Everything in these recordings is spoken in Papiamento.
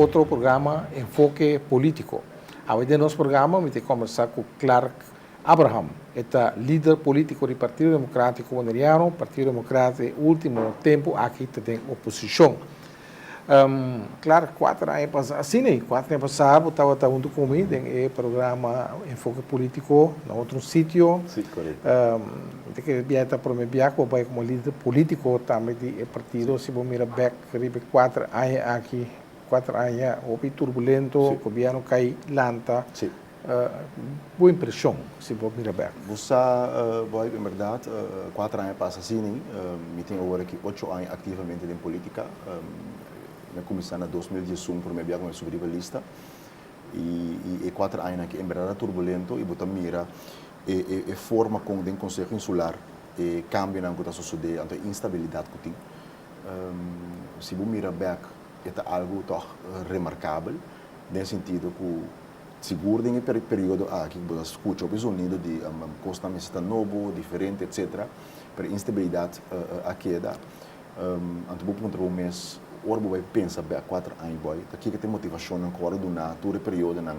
otro programa Enfoke Politico. Awe den nos programa mi ta conversa cu Clark Abraham. E ta lider politico di Partido Democratico Boneriano, Partido Democrata e ultimo tempo aki ta den oposicion. Klar, kuater aña pasá, asina ei, kuater aña pasá bo tabata huntu ku mi den e programa Enfoke Pólítiko na otro sitio. Sí, korekto. Mi ta kere bia e ta promé bia ku bo bai komo lider pólítiko tambe di e partido. Si bo mira bèk riba e kuater aña aki, kuater aña hopi turbulento, gobièrnu kai, lanta. Sí. Bo impresion si bo mira bek? Bo sa bo ai en berdad cuater aña pasa sini. Mi tin awor aki ocho aña activamente den politica. Mi a cuminsa na dos mil diesun primer bia cu mi a subi riba lista y e cuater añanan aki en berdad a turbulento y bo ta mira e forma con den Conseho Insular e cambionan cu ta sucede anto e instabilidad cu tin. Si bo mira bek e ta algo toch remarcabel den sentido cu. Sigur den e periodo aki bo ta skucha hopi zonido di kosnan mester ta nobo, diferente etc. Pero e instabilidat a keda. Anto bo puntra bo mes, ora bo bai pensa bek kuater aña bou, ta kiko ta e motivashonnan ku wòrdu duná tur e periodonan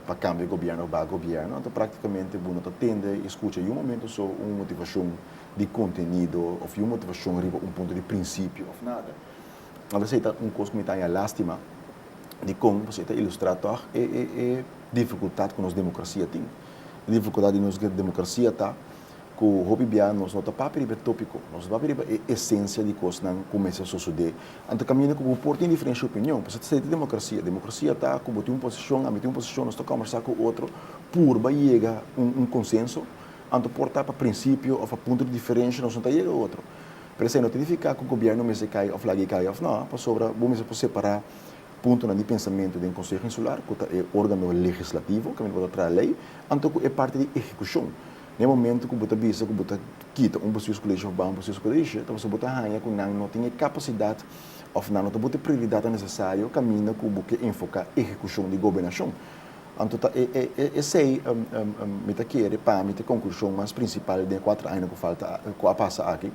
pa kambia gobièrnu òf baha gobièrnu? Anto praktikamente bo no ta tende i skucha yun momento so un motivashon di kontenido òf yun motivashon riba un punto di prinsipio òf nada. Tal bes ei ta un kos ku mi ta haña lástima dikon pasobra ei ta ilustrá tòg e difikultat ku nos demokrasia tin. E difikultat di nos demokrasia ta ku hopi biaha nos no ta papia riba e tópiko, nos no papia riba e esensia di kosnan ku mester sosodé. Anto kaminda ku bo por tin diferensha opinion, pasobra esei ta demokrasia. Demokrasia ta ku bo tin un posishon, ami tin un posishon, nos ta kòmbersá ku otro purba yega un konsenso. Anto por ta pa prinsipio òf pa punto di diferensha nos no ta yega otro. Pero esei no ta nifiká ku gobièrnu mester kai òf laga e kai òf nò, pasobra bo mester por separá puntonan di pensamentu den Konseho Insular, ku ta e órgano legislativo, ku tabata traha lei, anto ku e parti di ehekushon. Na e momentu ku bo ta bisa ku bo ta kita un bestuurskolesje òf baha un bestuurskolesje, ta pasobra bo ta haña ku nan no tin e kapasidat òf nan no ta bota e prioridatnan nesesario kaminda ku bo ke enfoká ehekushon di gobernashon. Anto ta e esei mi ta kere pa mi ta e konklushon mas prinsipal den e kuater aña ku falta ku a pasa aki,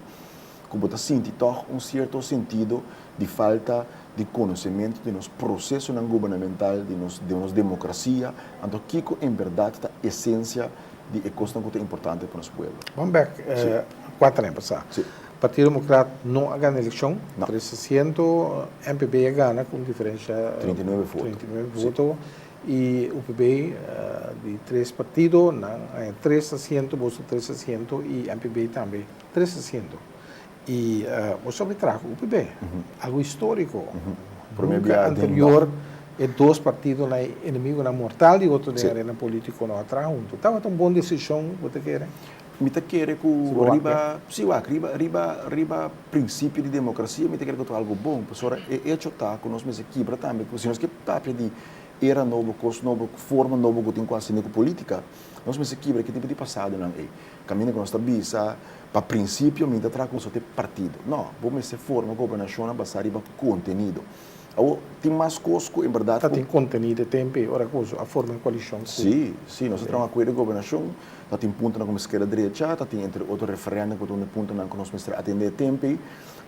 ku bo ta sinti tòg un sierto sentido di falta di konosementu di nos prosesonan gubernamental, di nos di nos demokrasia, anto kiko en bèrdat ta esensia di e kosnan ku ta importante pa nos pueblo? Bam bèk kuater aña pasá. Partido Demokrat no a gana elekshon, trese siento, NPB a gana ku un diferensha treinta i nueve voto. Y UPB di tres partido nan a haña tres asiento, boso tres asiento y MPB tambe tres asiento. Y bo sabe traha UPB, algo historico. Nunca anterior e dos partido nan, e enemigonan mortal di otro den arena politico nan a traha hunto. Tabata un bon decision bo ta kere? Mi ta kere ku riba, si wak, riba, riba, riba prinsipio di demokrasia mi ta kere ku ta algu bon, pasobra e echo ta ku nos mester kibra tambe ku si nos ke papia di era nobo, kos nobo, forma nobo ku tin ku hasi ku politika, nos mester kibra ki tipo di pasadonan ei. Kaminda ku nos ta bisa, pa prinsipio mi ta traha ku nosotros tin partido. No, bo mester forma gobernashonnan basá riba kontenido. Awor, tin mas cos cu en berdad cu. Ta tin contenido e tempe ora cu a forma un coalicion cu. Si, si, nos a traha un acuerdo di gobernacion, ta tin puntonan cu mester a drecha, ta tin entre otro referendum cu ta un di e puntonan cu nos mester a atende e tempe,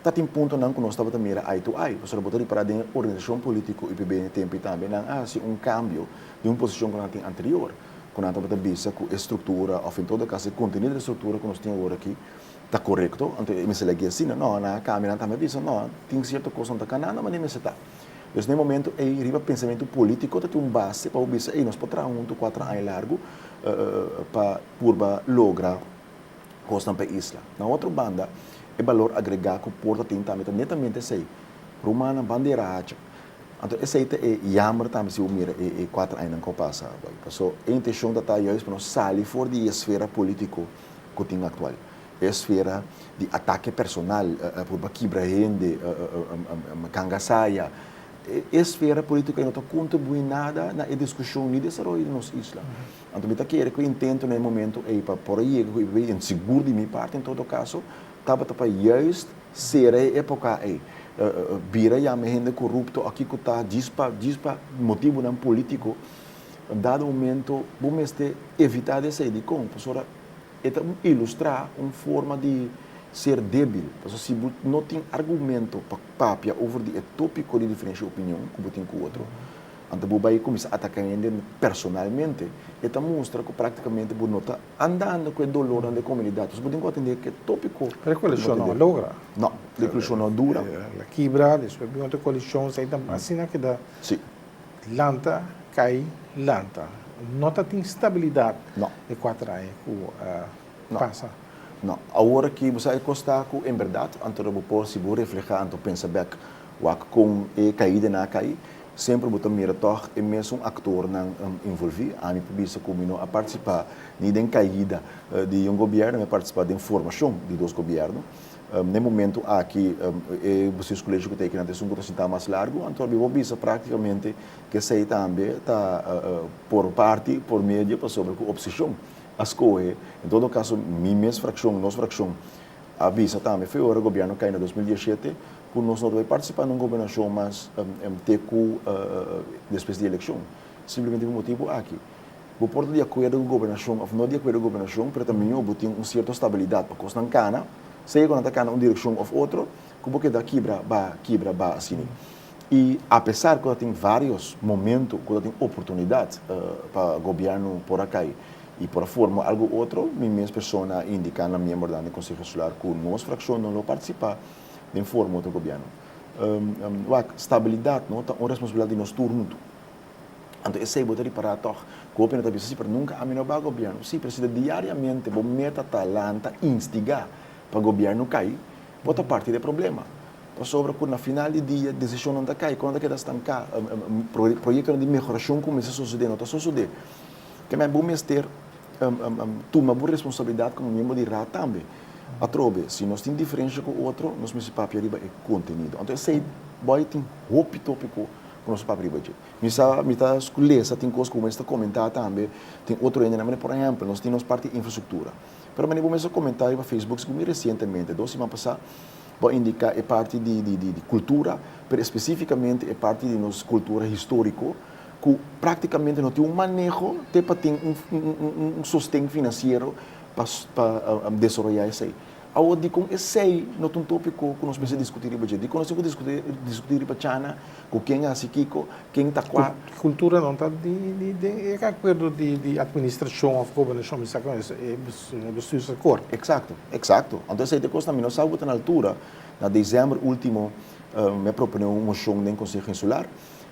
ta tin puntonan cu nos tabata mira eye to eye. Pasobra bo ta repara den e organisacion politico UPB den e tempe tambe nan a haci un cambio den un posicion cu nan a tin anterior, cu nan tabata bisa cu e structura of en todo caso e contenido di e structura cu nos tin awor aki, Ta korekto, anto e mester legi asina? No, nan a kambia, nan ta bisa, no, tin sierto kos nan ta kana, no, mane mester ta. Pues na e momento ei, riba pensamentu polítiko ta tin un base pa bo bisa, ey, nos por traha huntu kuater aña largu pa purba logra kosnan pa e isla. Na otro banda, e balor agregá ku por ta tin tambe ta netamente esei, rumannan, bandera haca. Anto esei ta e yamber tambe si bo mira e kuater añanan ku a pasa. Paso, e intenshon ta ta yais pa nos sali for di e esfera polítiko. ku tin aktual. E esfera di atake personal, purba kibra hende, ganga saya, e esfera polítiko ei no ta kontribuí nada na e diskushon ni desaroyo di nos isla. Anto mi ta kere ku e intento na e momentu ei pa por a yega ku e papia i sigur di mi parti en todo kaso tabata pa yùis sera e époka ei, bira yama hende korupto o kiko ta djis pa djis pa motibunan polítiko. Un dado momento bo mester evitá di esei. Dikon? Pasobra e ta ilustrá un forma di ser débil. Pasobra si bo no tin argumento pa papia over di e tópiko di diferenshia opinion ku bo tin ku otro, anto bo bai kuminsá ataká hende personalmente. E ta mustra ku práktikamente bo no ta andando ku e dolornan di e komunidat. Pasobra bo tin ku atendé ku e tópiko. Pero e koalishon no a logra. No, e koalishon no a dura. La kibra, despues bin otro koalishon. Asina keda. Sí. Lanta, cay, lanta. No ta tin stabilidad e cuater aña cu a pasa. No. Awor aki bo sa e cos ta cu en berdad, anto bo por sigur refleha, anto pensa bek wak con e caida na cay, semper bo ta mira tog e mesun actornan involvi. Ami por bisa cu mi no a participa ni den caida di un gobierno, mi a participa den formacion di dos gobierno. N'e momentu aki e Busius Colegio cu ta e Kinantes Sungu ta sinta mas largu, anto a bo bisa practicamente cu esey tambe ta por parti, por medio, pasobra cu oposicion a scoge. En todo caso mi mes fraccion, nos fraccion, a bisa tambe fe ora Gobierno cay na dos mil diecisiete cu nos no ta bay participa n'un Gobernacion mas te cu despues di eleccion, simplemente pa e motibu aki. Bo por ta di akuerdo ku gobernashon òf no di akuerdo ku gobernashon, pero ta mihó bo tin un sierto stabilidat pa kosnan kana, sea ku nan ta kana un direkshon òf otro, ku bo keda kibra ba, kibra ba asini. I apesar ku ta tin vários momentu ku ta tin oportunidat pa gobièrnu por a kai i por a forma algu otro, mi mes persona a indiká na miembernan di Konseho Eskolar ku nos frakshon no lo partisipá den forma otro gobièrnu. Wak, stabilidat ta un responsabilidat di nos tur huntu. Anto esei bo ta ripará tòg ku hopi no ta bisa si pero nunka ami no ba gobièrnu. Sí, pero si ta diariamente bo meta ta lanta, instigá pa gobièrnu kai, bo ta parti dje problema. Pasobra ku na final di dia desishonnan ta kai, kosnan ta keda stanká, proyektonan di mehorashon ku mester sosodé no ta sosodé. Te mai bo mester tuma bo responsabilidat komo miembro di Raad tambe. Atrobe, si nos tin diferensha ku otro, nos mester papia riba e kontenido. Anto esei bo tin hopi tópiko. Nos papia riba dje. Mi sa, mi ta sculesa tin cos cu bo mester ta comenta tambe, tin otro hende nan mane por ehempel nos tin nos parti infrastructura. Pero mane bo mester comenta riba Facebook si cu mi recientemente, dos siman pasa, bo a indica e parti di di di di cultura, pero especificamente e parti di nos cultura historico cu practicamente no tin un maneho te pa tin un un un un sosten financiero pa pa desaroya esey. Awor dikon esei no ta un topiko ku nos mester diskutí riba dje? Dikon nos tin ku diskutí riba chana, ku ken a hasi kiko, ken ta kua? Kulturanan ta den e akuerdo di atministrashon òf gobernashon, mi sa ku es e bestuursakòrt. Eksakto, eksakto. Anto esei ta e kosnan mi no sa ku ta na altura. Na desèmber último mi a proponé un moshon den Konseho Insular,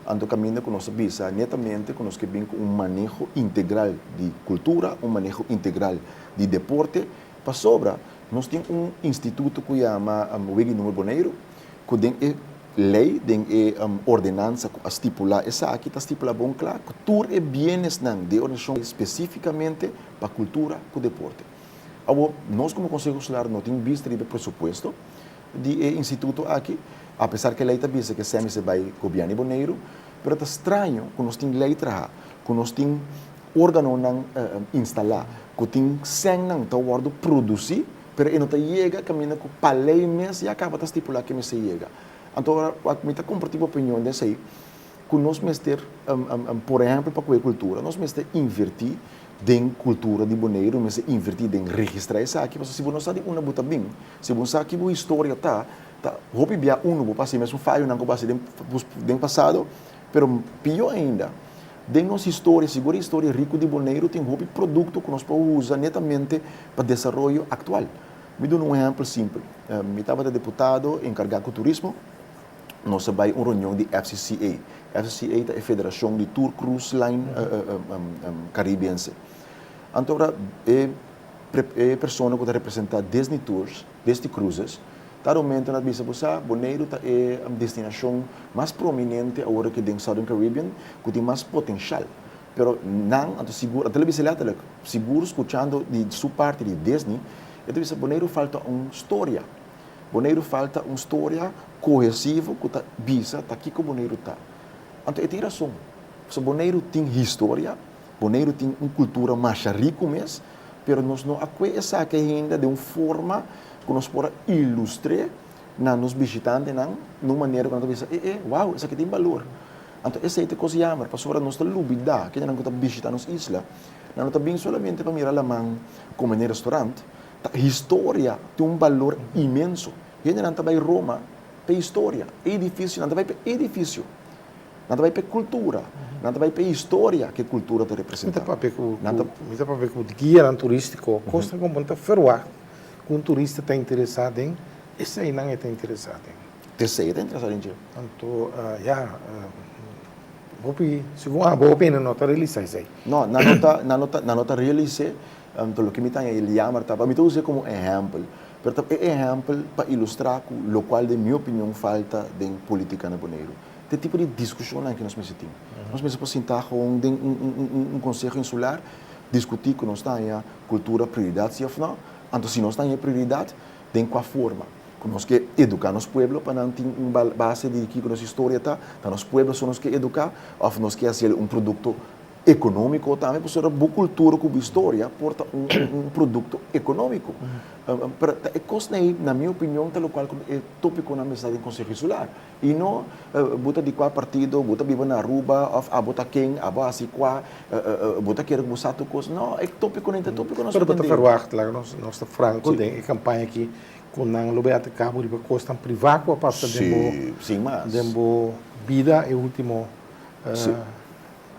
anto kaminda ku nos ta bisa netamente ku nos ke bin ku un maneho integral di kultura, un maneho integral di deporte Pasobra nos tin un instituto cu yama Weggie Noor Boneiru cu den e ley, den e ordenansa cu a stipula esaki ta stipula bon cla cu tur e bienesnan di e organisacion ta specificamente pa cultura cu deporte. Awor, nos como Conseho Escolar no tin bista riba e presupuesto, di e instituto aki, apesar ke lei ta bisa ke semi se bai Gobièrnu di Boneiru, pero ta straño ku nos tin lei traha, ku nos tin órganonan instalá, ku tin sènnan ta wòrdu produsí, pero e no ta yega kaminda ku pa lei mes ya kaba ta stipulá ke mester yega. Anto mi ta kompartí bo opinion den esei, ku nos mester, por ehèmpel pa ku e kultura, nos mester invertí den kultura di Boneiru, mester invertí den registrá esaki, pasobra si bo no sa di unda bo ta bin, Si bo sa ki bo historia ta, ta hopi bia unu bo pasa e mesun fayonan ku bo hasi den pasado, pero pió ainda, den nos historia, si bo ta historia riku di Boneiru, tin hopi produkto ku nos por usa netamente pa desaroyo aktual. Mi duna un ehèmpel simpel. Mi tabata deputado enkargá ku turismo, nos a bai un reunion di FCCA. FCCA ta e federashon di tur krus lain karibense. Anto, e e persona ku ta representá Disney Tours, Disney Cruises, ta rumento na ta bisa, bo sa, Boneiru ta e destinashon mas prominente awor aki den Southern Caribbean ku tin mas potenshal. Pero nan, anto sigur, a ta la bisa lèterlik, sigur skuchando di su parti di Disney, e ta bisa, Boneiru falta un storia. Boneiru falta un storia kohesivo ku ta bisa ta kiko Boneiru ta. Anto e tin rason, pasobra Boneiru tin historia, Boneiru tin un kultura masha riku mes, pero nos no a kue esaki ainda den un forma ku nos por a ilustr'é na nos bishitantenan na un manera ku nan ta bisa, e'e, wou, esaki tin balur. Anto esei ta e kos yamber, pasobra nos ta lubidá kendenan ku ta bishitá nos isla, nan no ta bin solamente pa mira laman kome den restaurant, ta historia tin un balur inmenso. Hendenan ta bai Roma pa e historia, e idifisio, nan ta bai pa e idifisio. Nan ta bai pa e kultura. Nan ta bai pa e historia ku e kultura ta representá. Mi ta papia ku, mi ta papia ku guianan turístiko, kosnan komo nan ta ferwá ku un turista ta interesá den esei nan e ta interesá den. Esei e ta interesá den dje? Anto, ya, hopi, segun abo hopi hende no ta realisá esei. No, nan no ta, nan no ta, nan no ta realis'é. Anto loke mi ta haña el yammer ta, mi ta us'é komo un ehèmpel, pero ta e ehèmpel pa ilustrá ku lokual den mi opinion falta den politika na Boneiru. ta e tipo di diskushonnan ku nos mester tin. Nos mester por sinta hon den un konseho insular, diskutí ku nos ta haña kultura prioridat si òf nò. Anto si nos ta haña e prioridat, den kua forma ku nos ke eduká nos pueblo pa nan tin un base di kiko nos historia ta? Ta nos pueblo so nos ke eduká òf nos ke hasiel un produkto ekonómiko tambe? Pasobra bo kultura ku bo historia por ta un produkto ekonómiko. Ta e kosnan ei, na mi opinion, ta lokual ku e tópikonan mester den konseho insular. Y no bo ta di cua partido, bo ta biba na Aruba of abo ta ken, abo haci cua, bo ta kere cu bo sa tur cos. No, e topiconan y ta topico nos. Pero bo ta verwacht, laga nos nos ta franco den e campaña aki, cu nan lo bay at cabo riba cos tan priva cu a pasa den bo, den bo bida e ultimo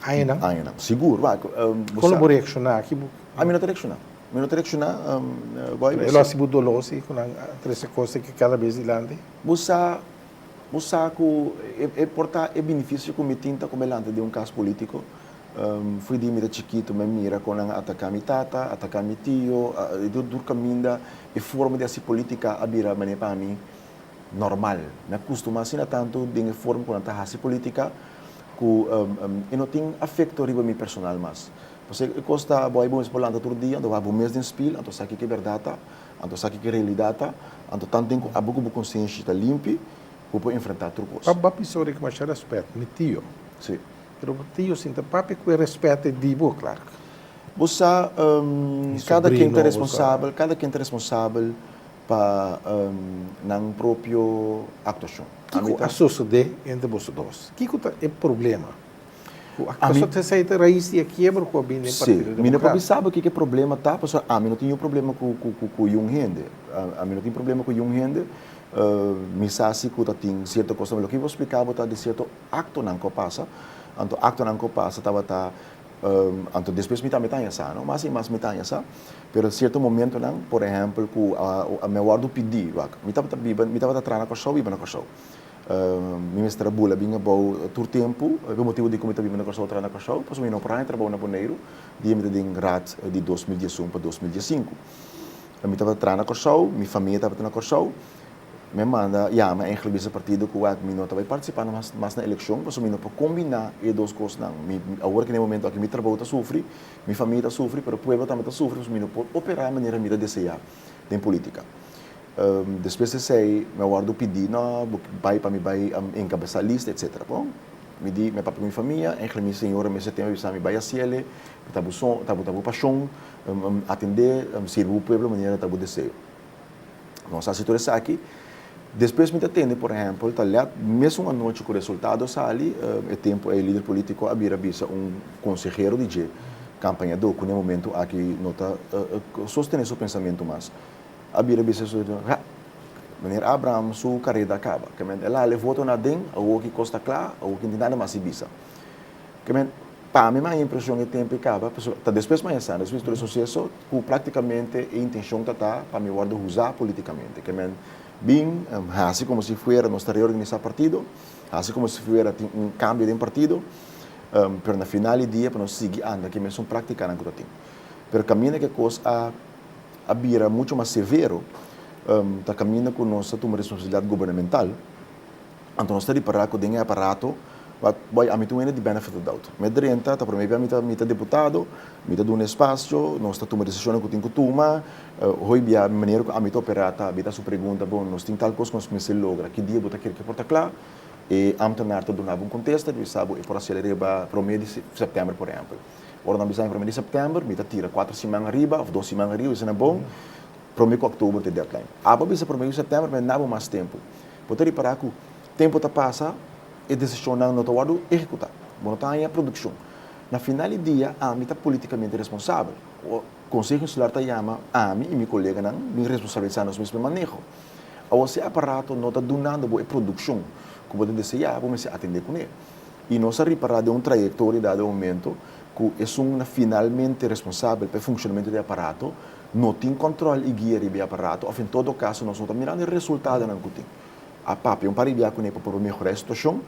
añanan. Añanan, sigur. Con lo bo reacciona aki? A mi no ta reacciona. Mi no ta reacciona, Boy. E lo haci bo dolor si cu nan trece cos aki cada bes dilanti? Bo sa, bo sa ku e por ta e binifisio ku mi tin ta ku mi lanta di un kas polítiko. Fui di mi ta chikitu mi a mira kon nan a ataká mi tata, ataká mi tio, tur kaminda e forma di hasi polítika a bira manera pa mi normal. Mi a kustumá asina tantu den e forma ku nan ta hasi polítika ku e no tin afekto riba mi personal mas. Pasobra e kos ta bo a bai bo mes por lanta tur dia, anto bo a bai bo mes den spil, anto bo sa kiko e bèrdat ta. Anto esaki ke realidat ta, anto tantu den ku abo ku bo konsienshi ta limpi, bo por enfrentá tur kos. Papá bisa orekia masha rèspèt, mi tio. Sí. Pero bo tio sinta papia ku e rèspèt e di bo, Clark. Bo sa, kada ken ta responsabel, kada ken ta responsabel pa nan propio aktuashon. Kiko a susedé entre boso dos? Kiko ta e problema? Cu a cosa ta esey ta raiz di e kiebra cu a bini den Partido Democratico. Si, mi no papia saba kico e problema ta, pasobra ami no tin niun problema cu, cu, cu, cu yiun hende. Ami no tin problema cu yiun hende. Mi sa si cu ta tin cierto cosnan, pero lo cu mi por splica bo ta di cierto actonan cu a pasa, anto actonan cu a pasa tabata, anto despues mi tambe ta haña sa, no? Mas y mas mi ta haña sa, pero cierto momentonan, por ehempel cu mi a wordo pidi, wak, mi tabata biba, mi tabata tra na Kòrsou, biba na Kòrsou. Mi mester a bula bin abou tur tempu. E ku e motibu di ku mi ta biba na Kòrsou tras na Kòrsou pasobra mi no por haña trabou na Boneiru dia mi ta den Raad di dos mil diesun pa dos mil diesinku. Mi tabata tras na Kòrsou, mi famia tabata na Kòrsou. Mi a manda yama Angel bisa partido ku wak mi no ta bai partisipá mas mas na elekshon pasobra mi no por kombiná e dos kosnan. Mi awor ku na e momentu aki mi trabou ta sufri, mi famia ta sufri, pero pueblo tambe ta sufri pasobra mi no por operá manera mi ta deseá. den politica. Despues ta esey mi a wordo pidi, no, bo bay pa mi bay encabesa lista, etc. Bon, mi di mi papia cu mi famia, en Glemin Señora mester tem a bisa mi bay haciele, mi ta bo son, ta bo pasion atende, sirbi bo pueblo manera ta bo deseo. Nos haci tur esaki. Despues mi ta tende, por ehempel, ta lèt mesun anochi ku resultado a sali, e tempu ei lider polítiko a bira bisa un konsehero di dje kampañadó ku na e momentu aki no ta sostené su pensamentu mas. A bira bisa su konsehero, Ha! Meneer Abraham su kareda a kaba. Kèmen el a hal e voto naden, awor ki kos ta kla, awor ki tin nada mas si bisa. Kemen, pa mi maya impresion e tempo i caba, pasobra ta despues maya sano, despues tur e suceso, cu practicamente e intencion ta ta pa mi wordo huza politicamente. Kemen bin haci como si fuera nos ta reorganisa partido, haci como si fuera tin un cambio den partido, pero na final di dia pa nos sigui anda cu e mesun practicanan cu ta tin. Pero caminda cu e cos a a bira mucho mas severo, ta caminda cu nos ta tuma responsabilidad gubernamental, Anto nos ta ripará ku den e aparato, wak, bai, ami ta wini di benefit of doubt. Mi a drenta, ta promé bia mi ta mi ta diputado, mi ta duna e spasio, nos ta tuma desishonnan ku tin ku tuma, hoi bia manera ku ami ta operá ta abitá su pregunta, bon, nos tin tal kos ku nos mester logra, ki dia bo ta kere ku e por ta kla? E ámtenar ta duna bo un kontesta, ta bisa bo e por hasél riba promé di sèptèmber, por ehèmpel. Ora nan bisa mi promé di sèptèmber, mi ta tira kuater siman ariba òf dos siman ariba, mi ta bisa nan, bon, promé ku òktober ta e deadline. Abo a bisa promé ku sèptèmber, mi a na bo mas tempu. Bo ta ripará ku tempu ta pasa, e desishonnan no ta wòrdu ehekutá. Bo no ta haña produkshon. Na final di dia, ami ta polítikamente responsabel. Konseho Insular ta yama ami i mi koleganan bin responsabilisá nos mes pa e maneho. Aos e aparato no ta dunando bo e produkshon ku bo ta deseá, bo mester atendé kuné. I nos a ripará den un trayektoria dado e momento ku esun na finalmente responsabel pa e funshonamentu di e aparato, no tin kòntròl i guia riba e aparato òf en todo kaso nos no ta mirando e resultadonan ku tin. A papia un par di dia kuné pa por mehorá e situashon,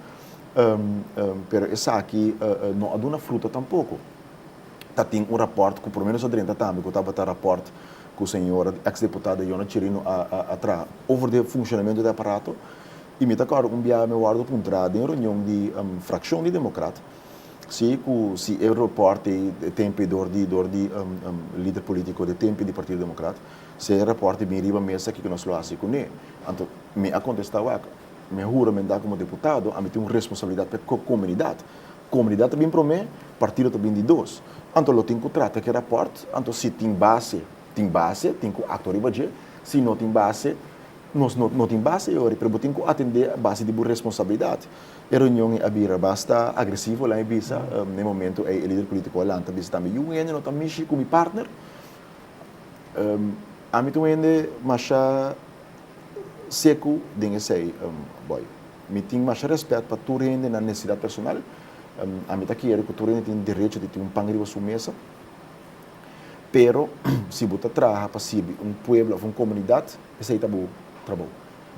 pero esaki no a duna fruto tampoko. Ta tin un rapòrt ku por lo menos ta drenta tambe ku tabata rapòrt ku señora èks deputada Yona Chirino a traha over di e funshonamentu di e aparato i mi ta kòrda un biaha mi wòrdu puntra den e reunion di frakshon di demokrat, Si ku si e rapòrt ei e tempu ei dor di dor di lider polítiko di e tempu di Partido Demokrat, si e rapòrt ei bin riba mes akí ke nos lo hasi kuné. Anto mi a kontestá wak, mi a huramentá komo deputado, ami tin un responsabilidat pa e komunidat. Komunidat ta bin promé, partido ta bin di dos. Anto lo tin ku trata ku e rapòrt, anto si tin base, tin base, tin ku aktua riba dje, si no tin base, nos no tin base yori, pero bo tin ku atendé a base di bo responsabilidat. E reunion ei a bira basta agresivo, laga mi bisa. Na e momento ei e lider politico a lanta bisa tambe, Yu wende no ta mishi cu mi partner. Ami ta wende masha secu den esey, boy. Mi tin masha respet pa tur hende na necesidad personal. Ami ta kere cu tur hende tin derecho di tin un pan riba su mesa. Pero si bo ta traha pa sirbi un pueblo of un comunidad, esey ta bo trabou.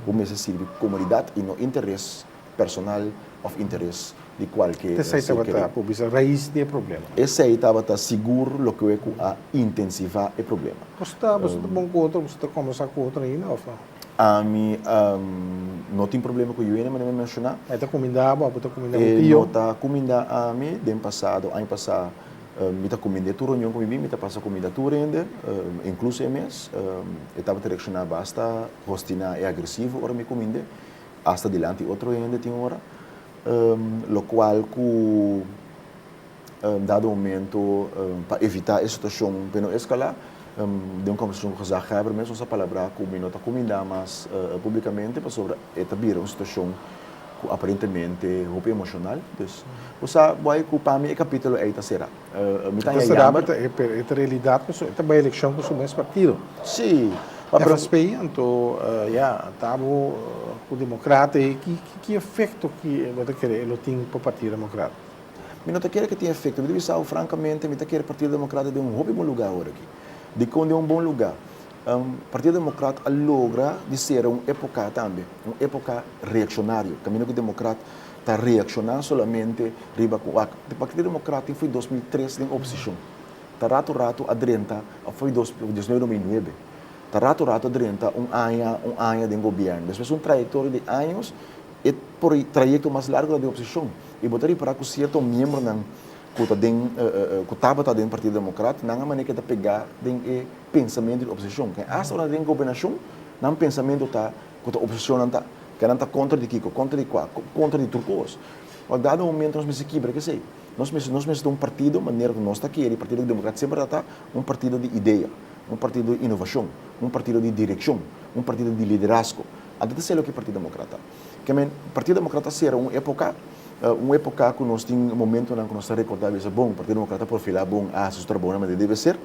Bo mester sirbi komunidat i no interes personal òf interes di kualke Esei tabata, por bisa, rais di e problema. Esei tabata sigur lokewe ku a intensivá e problema. Bo sta, bo sta bon ku otro, bo sta kòmbersá ku otro ainda òf no? Ami no tin problema ku Juene, manera mi a menshoná. E ta kumindá bo? Bo ta kumindá bo tio? E no ta kumindá ami. Den pasado, aña pasá. Mi ta kumind'é tur reunion ku mi bin, mi ta pasa kumida tur hende, inkluso e mes. E tabata reakshoná basta hostiná i agresivo ora mi kumind'é, asta dilanti otro hende tin ora. Lokual ku dado momento pa evitá e situashon pa e no eskalá, den un kòmbersashon ku gezaghèber mes nos a palabrá ku mi no ta kumindá mas públikamente pasobra e ta bira un situashon Cu aparentemente hopi emocional, dus bo sa bo ai cu pa mi e capitulo ei ta cera. Mi ta haya jammer. Ta cera pero e ta realidad cu e ta bay eleccion cu su mes partido. Si. FSP anto ya ta bo cu democrata ei ki efecto ki bo ta kere e lo tin pa partido democrata? Mi no ta kere cu e tin efecto. Mi ta bisa bo francamente mi ta kere partido democrata den un hopi bon lugar aworaki. Dicon den un bon lugar? Partido Democrat a logra di sera un epoca tambe, un epoca reaccionario, camino cu Democrat ta reacciona solamente riba cu ac. Partido Democrat tin fo'i dos mil tres den oposicion, ta rato rato a drenta, a fo'i dos mil diecinuebe, dos mil nuebe, ta rato rato a drenta un aña, un aña den gobierno, despues un trayectoria di años, e trayecto mas largo ta den oposicion y bo ta ripara cu cierto miembronan cu ta den, cu tabata den Partido Democrat nan a manera cu e ta pega den e. pensamentu di oposishon. Ken asta ora nan ta den gobernashon, nan pensamentu ta ku ta oposishonnan ta. Ke nan ta kontra di kiko, kontra di kua, kontra di tur kos. Ua dado momento nos mester kibra kesei. Nos mester nos mester ta un partido manera ku nos ta kere, Partido Demokrat semper a ta un partido di idea, un partido di inovashon, un partido di direkshon, un partido di liderazgo. Anto ta esei loke Partido Demokrat ta. Ke men, Partido Demokrat ta sera un epoka, un epoka ku nos tin momentunan ku nos ta rekorda bisa bon, Partido Demokrat ta profilá bon, a hasi su trabou na manera debe ser.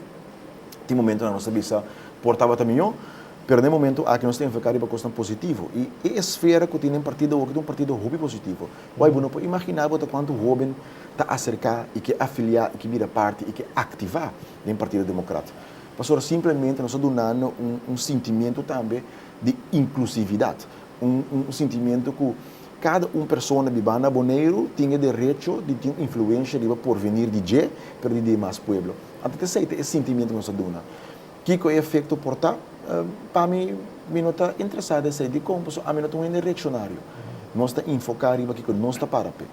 Tin momentunan nos ta bisa por tabata mihó, pero na e momentu aki nos ta enfoká riba kosnan positivo. I e esfera ku tin den partido awor ta un partido hopi positivo. Wai bo no por imaginá bo ta kuantu hóben ta aserká i ke afiliá i ke bira parti i ke aktivá den Partido Demokrat. Pasobra simplemente nos ta dunando un un sintimiento tambe di inklusividat, un un sintimiento ku kada un persona bibanda Boneiru tin e derecho di tin influensha riba porvenir di dje, pero di dimas pueblo. Anto ta esei ta e sintimiento nos a duna. Kiko e efecto por ta? Pa mi, mi no ta interesa di esei. Dikon? Pasobra ami no ta un hende reaccionario. Nos ta enfoca riba kiko nos ta para p'e.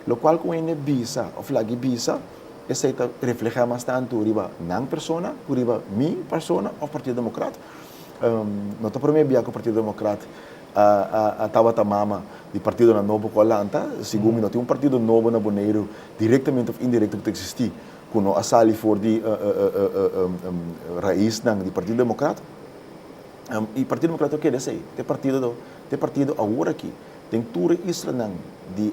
Locual cu un hende bisa of lag'e bisa, esei ta refleha mas tanto riba nan persona cu riba mi persona of Partido Democrat. No ta prome bia cu Partido Democrat a tabata mama di partidonan nobo cu a lanta, segun mi no tin un partido nobo na Boneiru directamente of indirecto cu ta existi. cu no a sali for di raisnan di Partido Democrata. Y Partido Democrata lo keda esey. Te partido te partido awor aki den tur e islanan di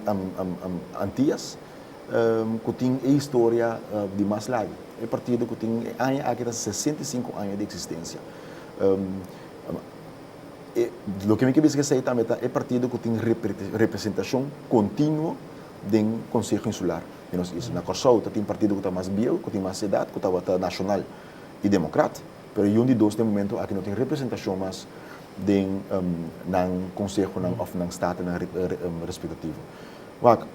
Antias cu tin e historia di mas lagu. E partido cu tin e aña aki ta hasi sesenta i sinku aña di existencia. Loke mi ke bisa esey tambe ta e partido cu tin representacion continuo den Konseho Insular di nos isla. Na Kòrsou ta tin partido ku ta mas bieu, ku tin mas edat, ku tabata nashonal i demokrat, pero i un di dos den momentu aki no tin representashon mas den nan konsehonan òf nan statenan respetativo. Wak,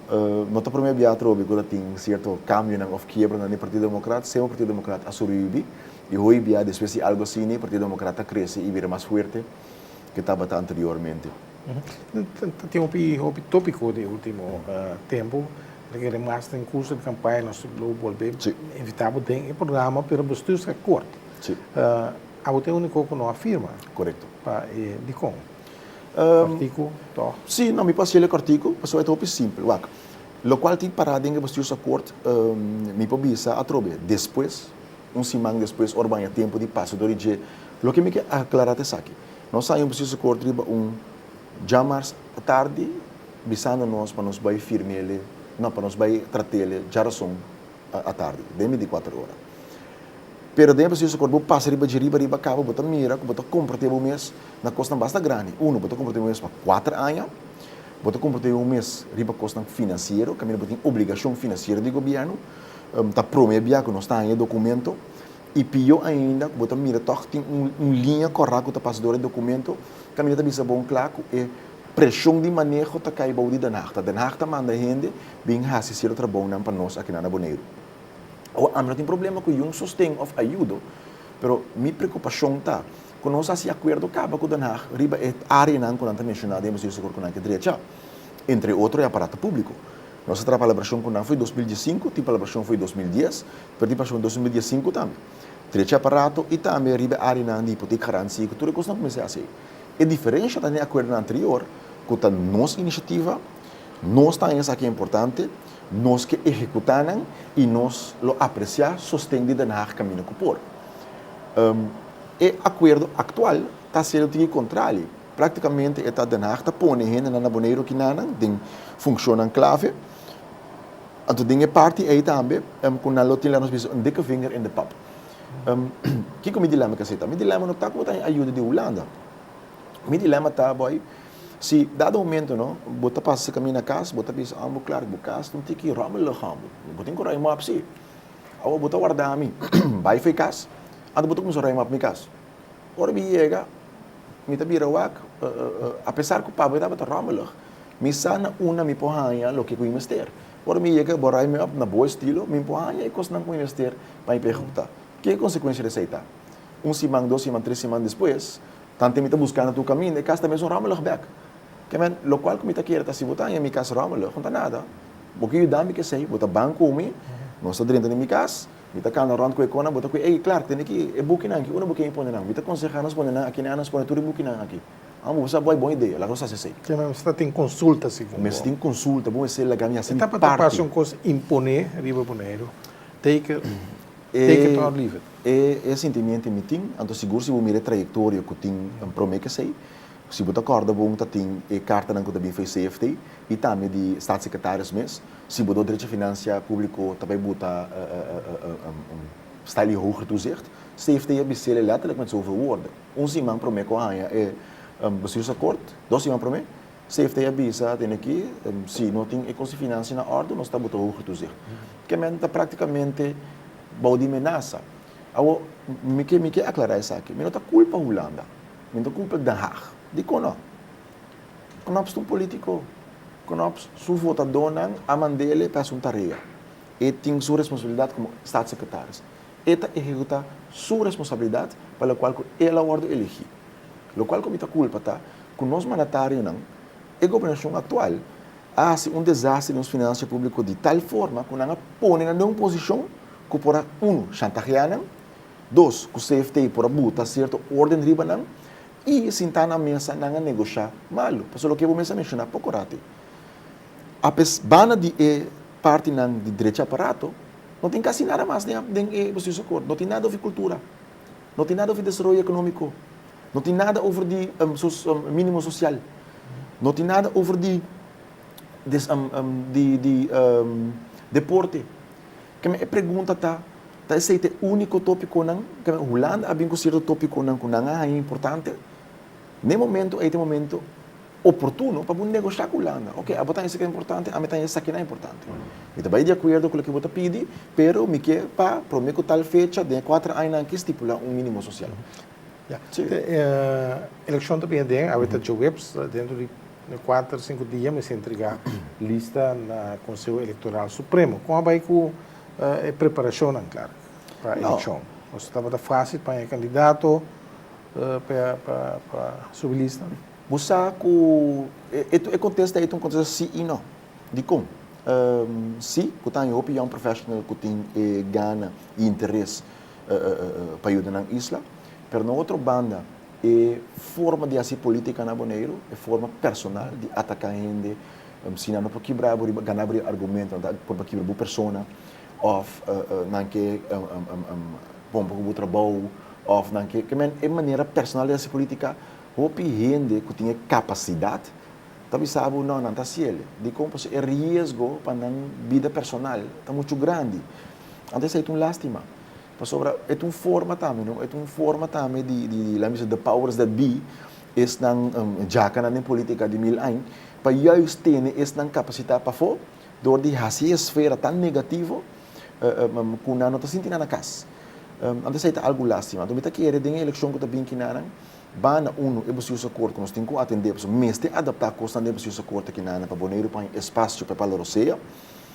no ta promé bia atrobe ku ta tin sierto kambionan òf kiebranan den Partido Demokrat, sema Partido Demokrat a sobreviví i hoy bia despues di algu asina Partido Demokrat a krese i bira mas fuerte ke tabata anteriormente. Ta tin hopi hopi topiko di ultimo tempu ta kere mas den kurso di kampaya nos lo bolbe invita bo den e programa pero bo studio ta kort abo tin uniko ku no a firma pa e dikon kòrtiku tòg? Si no mi paskei lo kòrtiku pasobra e ta hopi simpel wak lokual tin para den e bestuursakòrt mi por bisa atrobe despues Un siman despues, ora bo a haña tempu di pasa dor di dje, loke mi ke aklará ta esaki, Nos a haña un presiso kort riba un djamars tardi bisando nos pa nos bai firm'ele, no, pa nos bai trat'ele djarason atardi, den binti kuater ora. Pero den e presiso kort bo pasa riba dje riba riba kaba, bo ta mira ku bo ta kompromet'é bo mes na kosnan basta grandi. Uno, bo ta kompromet'é bo mes pa kuater aña, bo ta kompromet'é bo mes riba kosnan finansiero, kaminda bo tin obligashon finansiero di gobièrnu, Ta prome bia ku nos ta haña e dokumento i pió ainda ku bo ta mira tòg tin un liña kòrá ku ta pas dor e dokumento. Kan mi ta bisa bon kla ku e preshon di maneho ta kai bou di Den Haag. Ta Den Haag ta manda hende bin hasi cierto trabounan pa nos akinan na Boneiru. Awa, ami no tin problema ku yun sosten òf ayudo, pero mi preokupashon ta ku nos hasi akuerdo kaba ku Den Haag riba e áreanan ku nan ta menshoná den Bosio Sur Kurkunaike drecha, entre otro e aparato públiko. Nos a traha palabrashon ku nan foi dos mil die sinku, tin palabrashon foi dos mil dies, pero tin palabrashon dos mil die sinku tambe. Trechi aparato i tambe riba e áreanan di hipotek garansi ku tur e kos nan kuminsá hasi. E diferensha ta den e akuerdonan anterior ku ta nos inishativa, nos ta haña esaki importante, nos ke ehekutá nan i nos lo apresiá sosten di Den Haag kaminda ku por. E akuerdo aktual ta hasiendo tin e kontrali. Práktikamente e ta Den Haag ta pone hendenan na Boneiru kinanan den funshonnan klave. Anto den e parti ei tambe ku nan lo tin la nos bisa un dikke vinger in de pap. Kiko mi dilèma ta seta? Mi dilèma no ta ku bo ta haña ayuda di Hulanda. Mi dilèma ta aboi si dado momento no bo ta pasa sikami na kas bo ta bisa ambu klar ku bo kas ta un tiki rommelig ambu. Bo tin ku rei mòp si. Awo bo ta warda mi bai for e kas anto bo ta kuminsá rei mòp mi kas. Ora mi yega, mi ta bira wak, apesar ku papa mi tabata ròmmelig, mi sa na una mi por haña loke ku mi mester. Ora mi yega, bo rai mi òp na bo estilo, mi por haña e kosnan ku mi mester pa mi por ehekuta. Ke konsekuensia di esei ta? Un siman, dos siman, tres siman despues, tantu mi ta buska na tur kaminda, e kas ta mesun ròmmelig bèk. Kèmen, lokual ku mi ta kere ta si bo ta haña mi kas ròmmelig, no ta nada. Bo ke yuda mi ku esei, bo ta ban ku mi, nos ta drenta den mi kas, Mi ta kanda rònt ku e kona, bo ta kui ei, klar, tene ki e bukinan aki, unda bo kei pone nan? Mi ta konsehá nos pone nan aki, ne'á nos pone tur e bukinan aki. Amo, bo sa bo ei bon idea, laga nos hasi esei. Ke mi mester tin konsulta si ku bo? Mester tin konsulta, bo mester laga mi hasi mi parti. E ta pa ta pasa un kos imponé riba Boneiru, take it or leave it. E e sintimiento mi tin, anto sigur si bo mira e trayektoria ku tin den promé kes ei, si bo ta kòrda bo un ta tin e kartanan ku ta bin for e CFT i tambe di Statssekretarius mes, Si bo dor derecho financiar publico ta bay buta stijl di hoger toezicht, CFT a bisele letterlijk met zoveel woorden. Un siman prome cu a hanja e bestuursakkoord, dos siman prome, CFT a bisa atende ki si no tin e cos di financiën na orde nos ta buta hoger toezicht. Ke mende ta practicamente bou di menaza. Awor, mi ke mi ke aclara esaki, mi no ta culpa Hulanda, mi no ta culpa Den Haag. Dicon no? Knups ta un politico. Knups su votadonan a mandele pa haci un tarea. E tin su responsabilidad como Staatssecretaris. E ta ehecuta su responsabilidad pa lo cual cu el a wordo elegi. Lo cual cu mi ta culpa ta cu nos mandatarionan, e Gobernacion actual, a haci un desastre di nos financia publico di tal forma cu nan a pone nan den un posicion cu por a, uno, shantaheanan. Dos, cu CFT por a buta cierto orden riba nan. i sintá na mesa nan a negoshá malu. Pasobra loke bo mester a menshoná poko ratu ei, apes banda di e partinan di drechi aparato, no tin kasi nada mas den e Bestuursakkoord. Koor. No tin nada over kultura, no tin nada over desaroyo ekonomiko, no tin nada over di mínimo sosial, no tin nada over di deporte. Keme e pregunta ta, Ta esei ta e úniko tópikonan? Keme Hulanda a bin ku sierto tópikonan ku nan a haña importante? Na e momentu ei ta e momentu oportuno pa bo negoshá ku Hulanda. Oke, abo ta haña esaki importante, ami ta haña esaki nan importante. Mi ta bai di akuerdo ku loke bo ta pidi, pero mi ke pa promé ku tal fecha den e kuater añanan akí stipulá un mínimo sosial. Ya. Elekshon ta bini aden, awe ta djoweps, dentro di. Na kuater sinku dia mester entrega lista na Konseo Elektoral Supremo. Kon a bai ku e preparashonnan Clark pa elekshon? Nos tabata fasil paña e kandidato pa subi lista? Bo sa ku e kontesta ei ta un kontesta si i no. Dikon? Si, ku ta haña hopi young professional ku tin e gana i interes pa yuda nan isla. Pero na otro banda. E forma di hasi politica na Boneiru, e forma personal di ataca hende, sina no por kibra bo riba, gana bo riba argumento, no ta por pa kibra bo persona, of nan ke pon boca cu bo trabou, of nan ke, ke men, e manera personal di hasi politica, hopi hende cu tin e capacidad ta bisa bo no, nan ta hasi ele, dicon? Pasobra e riesgo pa nan bida personal ta muchu grandi, anto esey ta un lastima, Pasobra e ta un forma tambe, no? E ta un forma tambe di, di, di, laat me sê, the powers that be, esnan um, djakanan den politika di mil añ, pa juist tene esnan kapasitá pafó dor di hasi e sfera tan negativo um, um, ku nan no ta sinti nan na kas. Um, anto esei ta algu lástima. Anto mi ta kere den e elekshon ku ta bin kiná nan, banda unu, e basiusa kort ku nos tin ku atendé, pasobra mester adaptá kosnan den e basiusa kort aki nan pa Boneiru pone e spasio pa e Palo Rosea,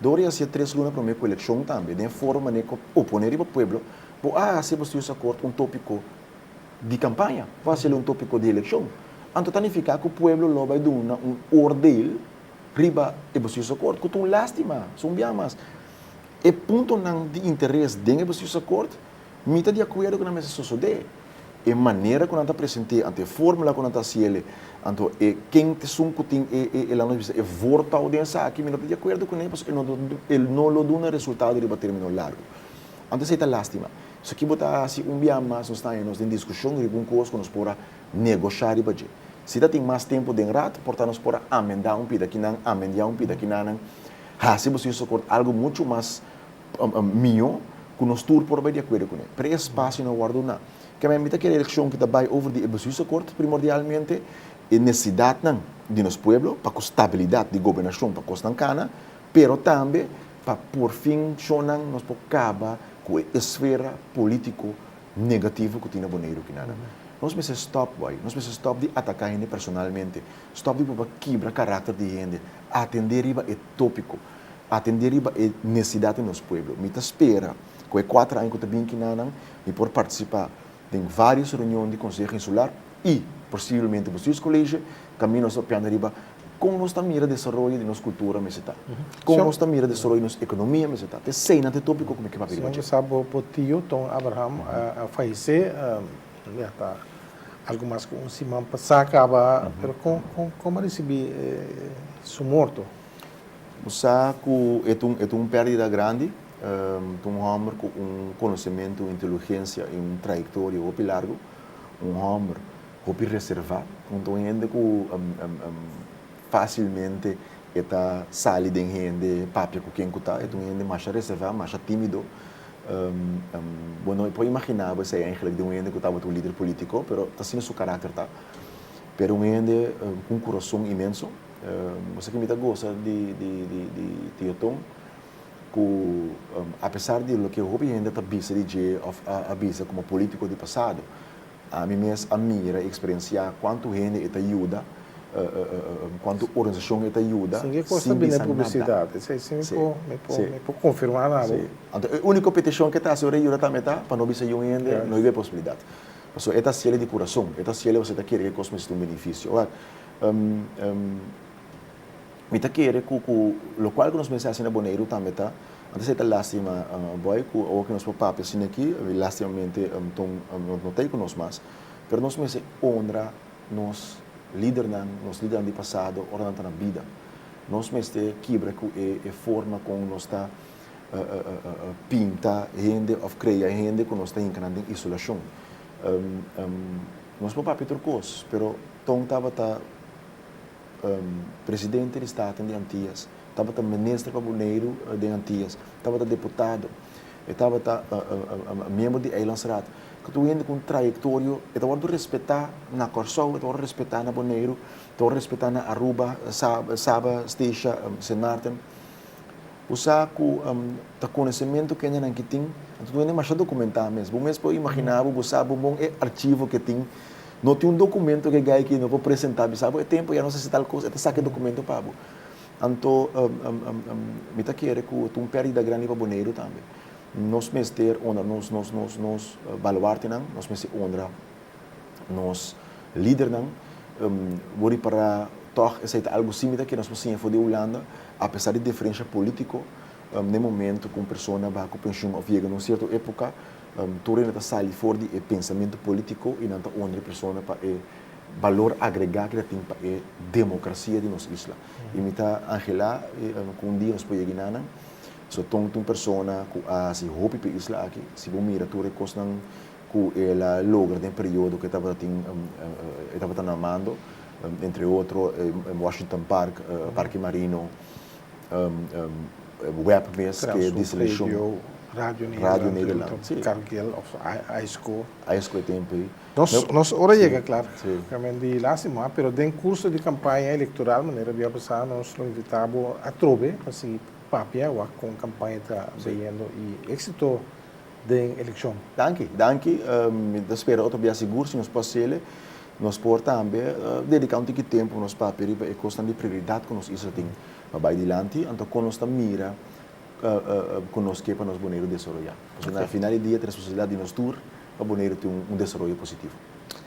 Dor i hacia tres luna prome cu eleccion tambe den foro mane cu bo pone riba pueblo bo a hacia bo stius acord un topico di campaña bo a hacia un topico di eleccion anto ta nifica cu pueblo lo bay duna un oordeel riba e bo stius acord cu ta un lastima so un bia mas e puntonan di interes den e bo stius acord Mi ta di akuerdo ku nan mester sosodé. E manera ku nan ta present'é anto e fórmula ku nan ta hasi el'e anto e ken esun ku tin e e la nos bisa e vòrtau den esaki mi no ta di akuerdo ku nan pasobra e no e no lo duna resultado riba término largu. Anto esei ta lástima. So ki bo ta hasi un biaha mas nos ta haña nos den diskushon riba un kos ku nos por a negoshá riba dje. Si ta tin mas tempu den Rad por ta nos por a amendá un pida kinan, amendiá un pida kinanan, hasi bo sin sokor algu muchu mas mihó ku nos tur por bai di akuerdo kuné. Pero e espasio no a wòrdu uná. Kèn mi ta kere elekshon ku ta bai over di e besuiso kort, primordialmente e nesesidatnan di nos pueblo pa ku stabilidat di gobernashon pa kosnan kana, pero tambe pa porfin shonnan nos por kaba ku e esfera polítiko negativo ku tin na Boneiru aki. Nada. Nos mester stòp bo ayi. Nos mester stòp di ataká hende personalmente. Stòp di proba kibra karakter di hende. Atendé riba e tópiko. atendé riba e nesesidat di nos pueblo. Mi ta spera ku e kuater aña ku ta bin kinanan mi por partisipá den vários reunion di Konseho Insular i posibelmente Bestuurskollegie kaminda nos ta opiando riba kon nos ta mira desaroyo di nos kultura mester ta, kon nos ta mira desaroyo di nos ekonomia mester ta. Ta e seinan ta e tópiko ku mi ke papia riba dje. Sa bo bo tio Ton Abraham a falesé ya ta algu mas ku un siman pasá kaba, pero kon kon kon bo a risibí su morto? Bo sa cu e ta un perdida grandi. Ta un homber cu un conocemento, un intelugencia y un trayectoria hopi largo. Un homber hopi reserva. Un ta un hende cu facilmente e ta sali den hende, e papia cu ken cu ta. E ta un hende masha reserva, masha timido. Bo no por imagina bo esey eindelijk den un hende cu tabata un lider politico, pero ta asina su caracter ta. Pero un hende cu un curason inmenso. Nos ta kimita gosa di Tioton ku apesar di loke hopi hende ta bisa di dje òf a bisa komo polítiko di pasado, ami mes a mira i eksperensiá kuantu hende e ta yuda, kuantu organisashon e ta yuda sin bisa nada. Anto e úniko petishon ku e ta hasi ora e yuda tambe ta pa no bisa yun hende, no hib'e posibilidat. Pasobra e ta hasiel di kurason, e ta hasiel pasobra e ta kere ku e kos mester ta un benefisio. Mi ta kere ku ku lokual ku nos mester hasi na Boneiru tambe ta, antes ei ta lástima boy ku awor ku nos por papia sin aki lástimamente ton no ta ei ku nos mas, pero nos mester honra nos lidernan, nos lidernan di pasado ora nan ta na bida. Nos mester kibra ku e forma kon nos ta pinta hende òf krea hende ku nos ta hinka nan den isolashon. Nos por papia tur kos pero. Ton tabata Presidente di Staten di Antias, tabata Minister pa Boneiru den Antias, tabata Deputado, e tabata miembro di Eilandsraad. Tur hende ku un trayektorio e ta wòrdu respetá na Kòrsou, e ta wòrdu respetá na Boneiru, e ta wòrdu respetá na Aruba, Saba, Stisha, Sint Maarten. Bo sa cu ta conocemento kendenan ki tin? Anto no e demasha documentá mes. Bo mes por imagina bo, bo sa bon bon e archivo ke tin. No tin un documento ke gai ki no por presentá bisa bo e tempo ya nos hasi tal cos, e ta saca e documento pa bo. Anto mi ta kere cu ta un perdida grandi pa Boneiru tambe. Nos mester honra nos nos nos nos baluartenan, nos mester honra. nos lidernan bo ripará tòg esei ta algu símila ke nos por siña for di Hulanda apesar di diferensha polítiko na e momentu ku un persona baha ku penshun òf yega na un sierto époka tur hende ta sali for di e pensamentu polítiko i nan ta unda e persona pa e balor agregá ku e ta tin pa e demokrasia di nos isla i mi ta anhelá ku un dia nos por yega i nanan so ton ta un persona ku a hasi hopi pa e isla aki si bo mira tur e kosnan. cu el a logra den e periodo cu e tabata tin e tabata na mando, entre otro Washington Park, Parke Marino, WEP mes cu e diseleccion. Radio Nederland, si. Cargill of Aisco. Aisco e tempo ey. Nos nos ora yega clar. Si. Realmente y lastima, pero den curso di campaña electoral, manera bo ya basa, nos lo invita bo atrobe pa sigui papia wak con campaña ta beyendo y exito. den elekshon. Danki, danki. Mi ta spera otro bia sigur, si nos por hasiele, nos por tambe dediká un tiki tempu nos papia riba e kosnan di prioridat ku nos isla tin pa bai dilanti, anto kon nos ta mira ku nos ke pa nos Boneiru desaroyá? Pasobra na final di dia ta responsabilidat di nos tur pa Boneiru tin un desaroyo positivo.